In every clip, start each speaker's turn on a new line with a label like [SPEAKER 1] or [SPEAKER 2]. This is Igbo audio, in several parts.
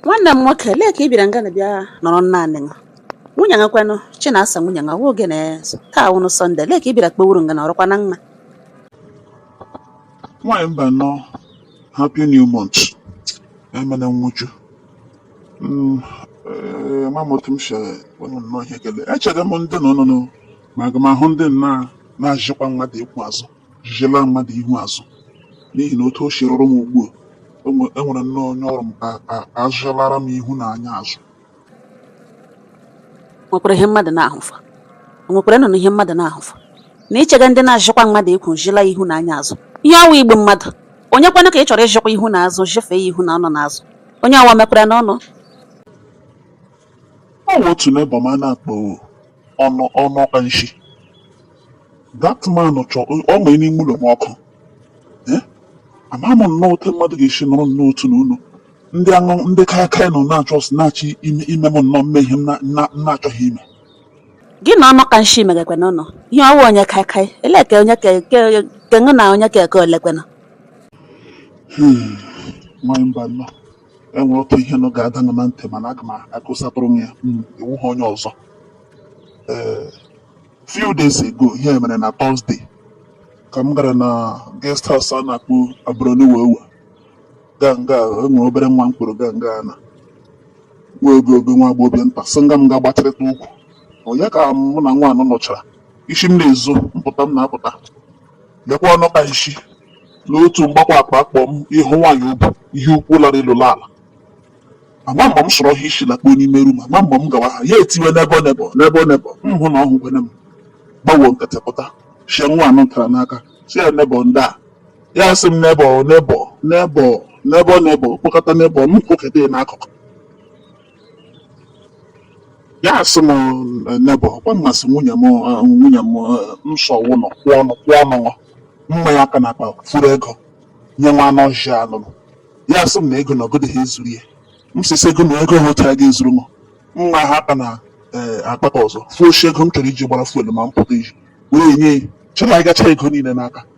[SPEAKER 1] nwanne m nwoke lee ka ị bịara nga na bịa nọrọ naanị m nwunye gị kwanụ chinasa nwunye gị ọwụ oge na taa wụnụ sọnde lee ka ị bịara kpewuru nga na ọ rụkwa na mma
[SPEAKER 2] nwaanyị mba nnọọ happy new month emena nwụchu Mm, eh, ma m otu m si wenu nnọọ ihe ekele echega m ndị nọ nụnụ ma aga m ahụ ndị nna na-ajịkwa mmadụ ịkwụ azụ jijela mmadụ ihu azụ n'ihi na otu o si rụrụ m ugbu a enwere nnọọ onye ọrụ m azụchalara m ihu na anya azụ
[SPEAKER 1] nwekwara ihe mmadụ na-ahụfa nwekwara nnọọ ihe mmadụ na-ahụfa na ichega ndị na-ajịkwa mmadụ ikwu jila ihu na anya azụ ihe ọwa igbu mmadụ onye kwanụ ka ị chọrọ ịjịkwa ihu na azụ jụfee ya ihu na ọnụ na azụ onye ọwa mekwara n'ọnụ
[SPEAKER 2] ọ wụ otu neighbour m a na-akpọ ọnụ ọnụ ka nshi that man chọ ọ ma n'ime ụlọ m ọkụ Eh? ama m nnọọ otu mmadụ ga-esi nọrọ nnọọ otu n'ụlọ ndị aṅụ ndị kaikai nọ na-achọ ọsọ na-achọ ime ime m nnọọ m mee ihe m na- na- m na-achọghị ime gị
[SPEAKER 1] na ọnụ ka nshi megakwe n'ụlọ ihe ọwụ onye kaikai ele ka onye ka ke ke ngụ na onye ka eke olekwe nọ
[SPEAKER 2] nwaanyị mba nnọọ enwere otu ihe nọ ga-ada m na ntị mana aga m akọsatụrụ m ya hmm. ị wụha onye ọzọ ee few days ago ihe mere na Thursday ka m gara na guest house a na-akpọ abụrụniwewe gaa nga enwere obere nwa mkpụrụ gaa nga na nwa oge oge nwa agbọghọbịa nta sị nga m ga-agbatịrịta ụkwụ onye ka mụ na nwa ahụ nọchara isi m na-ezo mpụta m na-apụta lekwa ọnụ ka nshi n'otu mgbakwa akpa akpọ m ịhụ nwaanyị ubu ihe ukwu lara elu ala ama mgbe m sọrọ ha isi lakpuo n'ime rum ama mgbe m gawa ha ya etiwe neighbour neighbour neighbour neighbour m hụ na ọ hụkwene m gbawo nkịtị pụta sie nwa anụ ntara n'aka sị ya neighbour ndaa ya sị m neighbour neighbour neighbour neighbour neighbour kpọkata neighbour m kwụketa ya n'akụkụ ya asị m neighbour ọkwa ị masị nwunye m eh, nwunye m eh, nsọ ụlọ kwụ ọnụ kwụ ọnụ m maa ya aka n'akpa furu ego nye nwa anụ ọhịa nụ ya asị m na ego na ọ gadịha ezuru ya m sisi ego na ego hotara ga-ezuru m maa aka na eh, akpa ka ọzọ fuoshi ego m chọrọ iji gbara fuel ma m pụta iji wee nye ya chọrọ ịgacha ego niile n'aka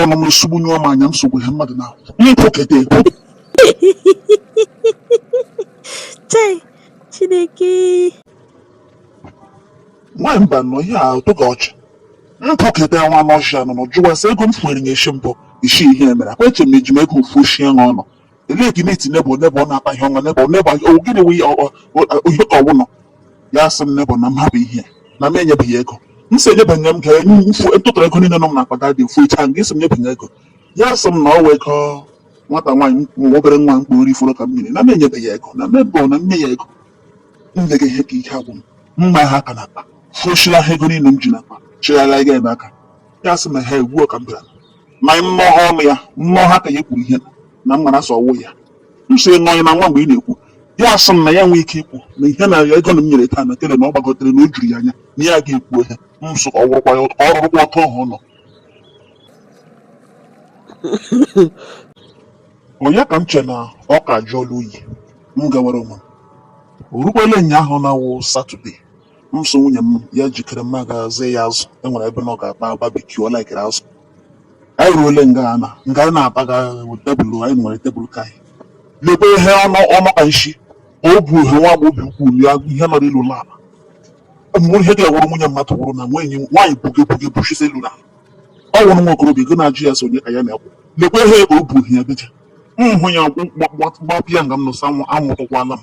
[SPEAKER 2] ọnụ m nsogbu nyụọ m anya m sogbu ihe mmadụ na m
[SPEAKER 1] kwụkete chai chineke
[SPEAKER 2] nwaanyị mba nọ ihe a ọ tọga ọchị m kwụkete nwa anụ ọhịa nụ jụwa sị ego m fuere n'isi mbụ isi ihe mere akwa eche m eji m ego m fushie ya ọnụ elee ka na-eti nebo nebo na-akpa ihe ọma nebo nebo gịnị wụ ihe ka ọwụlọ ya sị m nebo na m hapụ ihe na m enyebeghị ego m si enyebeghị m ka mfu ntụtụrụ ego niile nọ m n'akpa dadị ofu icha nke si m nyebeghị ego ya sị m na ọ wee ego nwata nwaanyị nwa obere nwa mkpụrụ ifuru ka mmiri na m enyebeghị ego na mebọ na nye ya ego m lega ihe ka ike agwụ m m ma ha aka n'akpa fụchila ha ego niile m ji n'akpa chigharịa ga ebe aka ya sị m ha egbuo ka m bịara ma mmụọ ha ọnụ ya mmụọ ha aka ya kwuru ihe na m mara sọ ọ wụ ya m so nọ ya na nwa mgbe ị na-ekwu ya asị m na ya nwee ike ikwu na ihe na ego na m nyere taa na tele na ọ gbagotere na o juru ya anya na ya ga-ekwu ihe m so ka ọ wụrụkwa ya ọ rụrụkwa ọtọ ọhụ ụlọ onye ka m che na ọ ka jụọla oyi m gawara onwe m o rukwala ụnyaahụ na-awụ satọde M so nwunye m ya jikere m ga zụọ ya azụ e nwere ebe na ọ ga-akpa babecue ọ laikere azụ anyị ruole nga a na nga anyị na-abaga tebụl anyị nwere tebụl ka anyị lekwa ihe ọnụ ọnụ ka nshi ma o bu ihe nwa agbọghọbịa ukwu ya ihe nọrọ ilu ụlọ ala mgbe ihe ga-ewụrụ nwunye mmadụ wụrụ na nwaanyị nwaanyị buge buge buchisi elu na ọ wụrụ nwa okorobịa ego na-ajụ ya so onye ka ya na-ekwu lekwa ihe ka o bu ihe ya beje m hụ ya gbapịa nga m nụsa anwụ anwụtụkwala m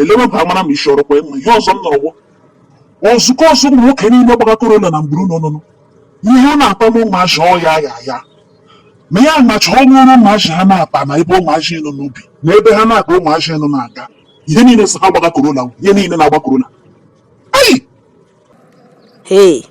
[SPEAKER 2] eleweba amara m isi ọrụkwa ịma ihe ọzọ m nọrọgwọ ozukọ ọzọ ụmụ nwoke niile gbaga korola na mgburu nọ nọ ihe ha na-akpa ụmụazị ọya ya ya ma ya macha ọnụ ọrụ ụmụazị ha na-akpa na ebe ụmụazị nọ n'ubi na ebe ha na-akpa ụmụazị nọ na-aga ihe niile sị ha gbaga korola ihe niile na-agba korola
[SPEAKER 1] Hei,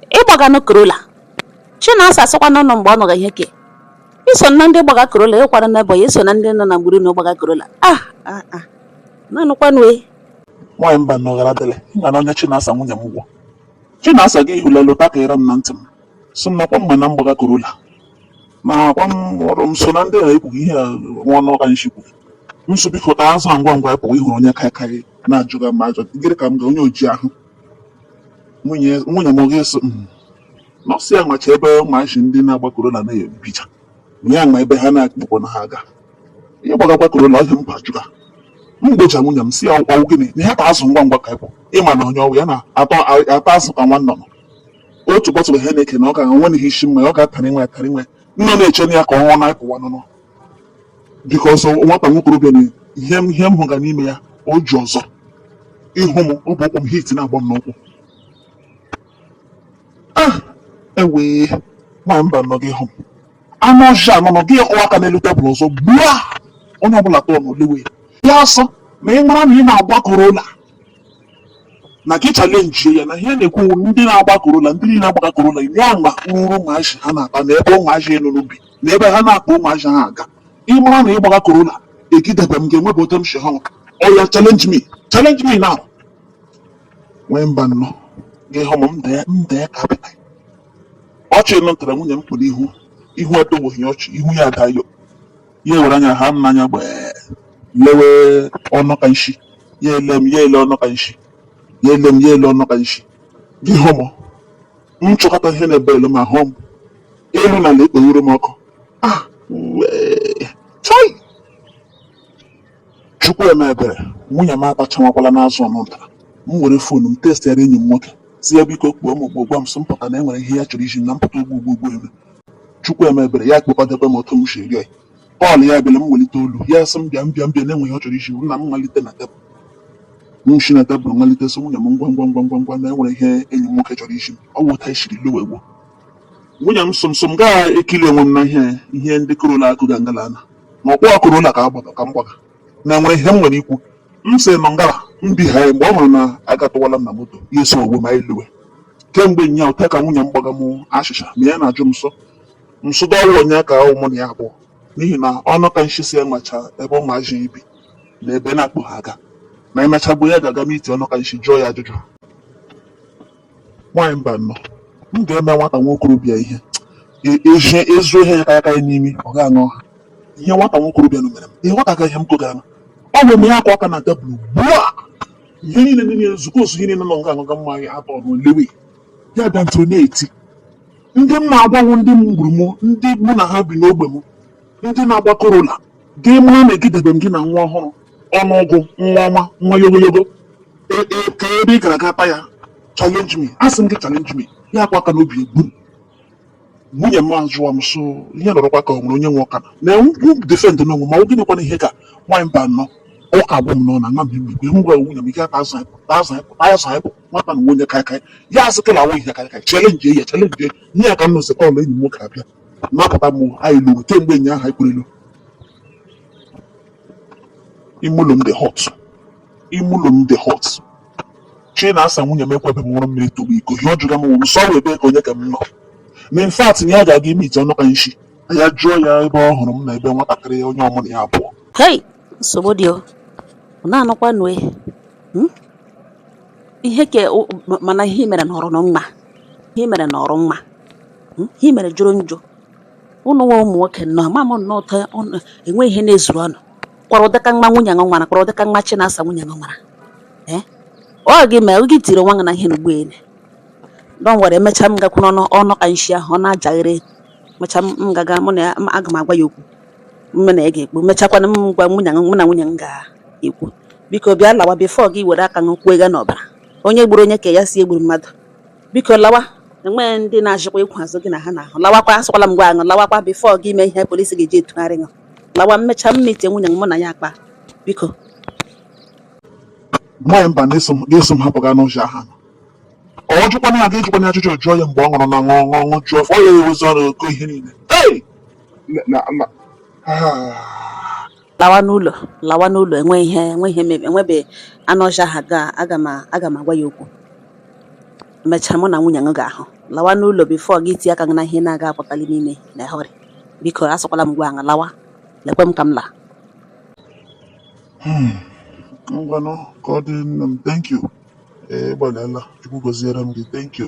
[SPEAKER 1] ị gbaganụ Corolla. Chinasa asịkwa n'ọnụ mgbe ọ nụrụ ihe ke. I so na ndị gbaga Corolla, ịkwara n'Ebonyi, i so na ndị nọ na mgburu na gbaga Corolla. Ah, ah, ah. Nanụkwanụ e. nwaanyị
[SPEAKER 2] Mbanọ gara dịrị m ga na onye chinasa nwunye m gwọ chinasa gị hụlelụ takịrị m na ntị m sị m nakwa mma na m gbaga korola na akwa m ọrụ m so na ndị a ekwughị ihe a nwa ọnụ ka nshi kwuru m so biko taa azụ a ngwa ngwa ị pụwa ị hụrụ onye kaikai na-ajụga m ajọ gịnị ka m ga onye oji ahụ nwunye nwunye m gị so "Mm." na ọ sị ya macha ebe ụmụazị ndị na-agba korola na-ebicha ya ma ebe ha na-akpụkpọ na ha aga ihe gbagakwa korola ọhịa mba jụga m gbocha nwunye m si ya ọ wụ gịnị na ya ta azụ ngwa ngwa ka ị pụ ị ma na onye ọ wụ ya na-ata azụ ka nwa nnụnụ otu bọtụlụ ha na-eke na ọ ga nwe n'ihe isi mma ọ ga-atara inwe atara inwe nna na-eche na ya ka ọnwa na-apụwa nụnụ biko ọsọ nwata nwa okorobịa na ihe m ihe m hụga n'ime ya o ji ọzọ ịhụ m ọ bụ ụkwụ m heat na-agba m n'ụkwụ ah ewee nwaanyị Mbanọ gị hụ m anụ ọhịa nọ nọ gị ọwa aka n'elu tebụl ọzọ gbuo onye ọbụla tọọ n'olewe ya asọ ma ị mara na ị na-agba korola na gị chalenjie ya na ihe na-ekwu ndị na-agba Corolla ndị niile agbaga Corolla ya ma ruru ụmụazị ha na-akpa na ebe ụmụazị nụ bi na ebe ha na-akpa ụmụazị ha aga ịmara na ị gbaga Corolla egidebe m ga-enwebe otu m si ha oya challenge me challenge me now nwee Mbanọ gị hụ m m dee m dee ka apịta ọchị nụ ntara nwunye m kpụrụ ihu ihu adọgbughị ọchị ihu ya adayo ya ewere anya ha m n'anya gbee lewe ọnụ ka nshi ya ele m ya ele ọnụ ka nshi ya ele m ya ele ọnụ ka nshi gị hụ m m chọkata ihe na-ebe elu ma hụ m elu na ala ekpeghere m ọkụ ah wee chọị chukwu eme ebere nwunye m atachawakwala n'azụ ọnụ ntara m were fon m textịara enyi m nwoke sị ya biko kpọọ m oku gwa m sị m pụta na e nwere ihe ya chọrọ izi m na m pụta ugbu ugbu ugbu eme chukwu eme ebere ya kpekwadebe m otu m si eri ya call ya bịara m welite olu ya sị m bịa m bịa m bịa na e nwere ihe ọ chọrọ izi m na m malite na tebụl m si na tebụl malite sị nwunye m ngwa ngwa ngwa ngwa ngwa na e nwere ihe enyi m nwoke chọrọ izi m ọ wụ otu anyị siri luwe gbuo nwunye m sụm sụm gaa ekiri onwe m n'ihi ihe ndị Corolla akọga ngala ana na ọ wụ Corolla ka agbaga ka m gbaga na nwere ihe m nwere ikwu m sị nọ ngara m bi ha ya mgbe ọ hụrụ na agatụwala m na moto ya esowe m anyị luwe kemgbe nya ụta ka nwunye m gbaga m achịcha ma ya na-ajụ m nsọ nsụda ọ wụ onye ka ọ wụ mụ na ya abụọ n'ihi na ọnụ ka nshi sị ya macha ebe ụmụazị bi na ebe na-akpụ ha aga na emechagbu ya ga-aga meet ọnụ ka nshi jụọ ya ajụjụ Nwaanyị Mbanọ, m ga-eme nwata nwa okorobịa ihe e- ezie ezuo ihe ya ka ya ka ya n'imi ọ gaghị aṅụ ha ihe nwata nwa okorobịa nụ mere m ihe nwata agaghị ihe m kogara m ọ wee mee akwa aka na tebụl gbua ihe niile ndị niile nzukọ ozu ihe niile nọ nga aṅụga mmanya atọ ọnụ lewe ya bịa ntụrụ na-eti ndị m na-agwanwụ ndị m gburu m ndị mụ na ha bi n'ogbe m ndị na-agba Corolla gị mara na egidebe m gị na nwa ọhụrụ ọnụọgụ nwa ọma nwa yogoyogo E- e- ka ebe ị gara ga-akpa ya challenge me asị m gị challenge me ya akwa aka n'obi gbum nwunye m ajụwa m so ihe nọrọkwa ka ọ nwere onye nwe ọka na enwu defend n'onwe ma ọ gịnịkwana ihe ka nwaanyị Mbanọ ụka agwụ m n'ọnụ na mmemme mgbe m gwara nwunye m ike aka azụ anyị pụta azụ anyị pụta azụ anyị pụta nwata na onye kaịkaị ya asị kịla awụ ihe kaịkaị chalenjie ya chalenjie ya ka m nọzi call enyi m nwoke abịa napụta m anyị luwe kemgbe nnyaahụ anyị kwurelu ime ụlọ m dị hot ime ụlọ m dị hot Chinasa nwunye m ekwebe m ṅụrụ mmiri tọgbọ iko ihe ọ jụga m wụrụ sọ ebe ka onye ka m nọ na in fact na ya ga-aga imeet ọnụ ka nshi ya jụọ ya ebe ọ hụrụ m na ebe nwatakịrị onye ọ wụ mụ na ya abụọ hei
[SPEAKER 1] nsogbu dị o ọ na-anụkwanụ e Hmm? ihe ka o- ma- mana ihe i mere nọrọ nọ mma ihe i mere nọrọ mma Hmm? ihe mere jọrọ njọ ụnụ nwa ụmụ nwoke nnọọ ma m nnọọ ụtọ enweghị ihe na-ezuru ụnụ kwara ụdịka nwa nwunye ṅụ nwara kwara ụdịka nwa Chinasa nwunye ṅụ nwara ee eh? ọ gị mee gị tiri nwa gị na ihe n'ugbo ele don't worry emechaa m gakwu n'ọnụ ọnụ ka nshi ahụ ọ na-ajagharị mechaa m ga-aga mụ na ya aga m agwa ya okwu mụ na ya ga-ekwu mechakwana m gwa nwunye mụ na nwunye m ga-ekwu biko bịa lawa before gị were aka ṅụ kwuo ga n'ọbara onye gburu onye ka ya si egburu mmadụ biko lawa enweghị ndị na-achịkwa ịkwụ azụ gị na ha na-ahụ lawakwa asụkwala m gwa aṅụ lawakwa before gị emee ihe police ga-eji etugharị ṅụ lawa emecha m meet nwunye m mụ na ya akpa biko
[SPEAKER 2] nwaanyị mba na-eso m hapụ gaa n'ụzọ aha ọ jụkwana ya ga-ejikwana ajụjụ jụọ ya mgbe ọ nụrụ na ṅụ ṅụ ṅụ jụọ ọ ya ewezi ọrụ ogo ihe niile
[SPEAKER 1] lawa n'ụlọ lawa n'ụlọ enwe ihe enwe ihe mebe enwebe anụ ọhịa ahụ aga m aga m agwa ya okwu mechaa mụ na nwunye m ga-ahụ lawa n'ụlọ before gị tie aka gị na ihe na-aga apụtali n'ime in a hurry biko asụkwala m gwa aṅụ lawa lekwe m ka m laa Hmm.
[SPEAKER 2] Ngwanụ ka ọ dị nne m. Thank you. Ee, ị gbalịala. Chukwu gọziere m gị. Thank you.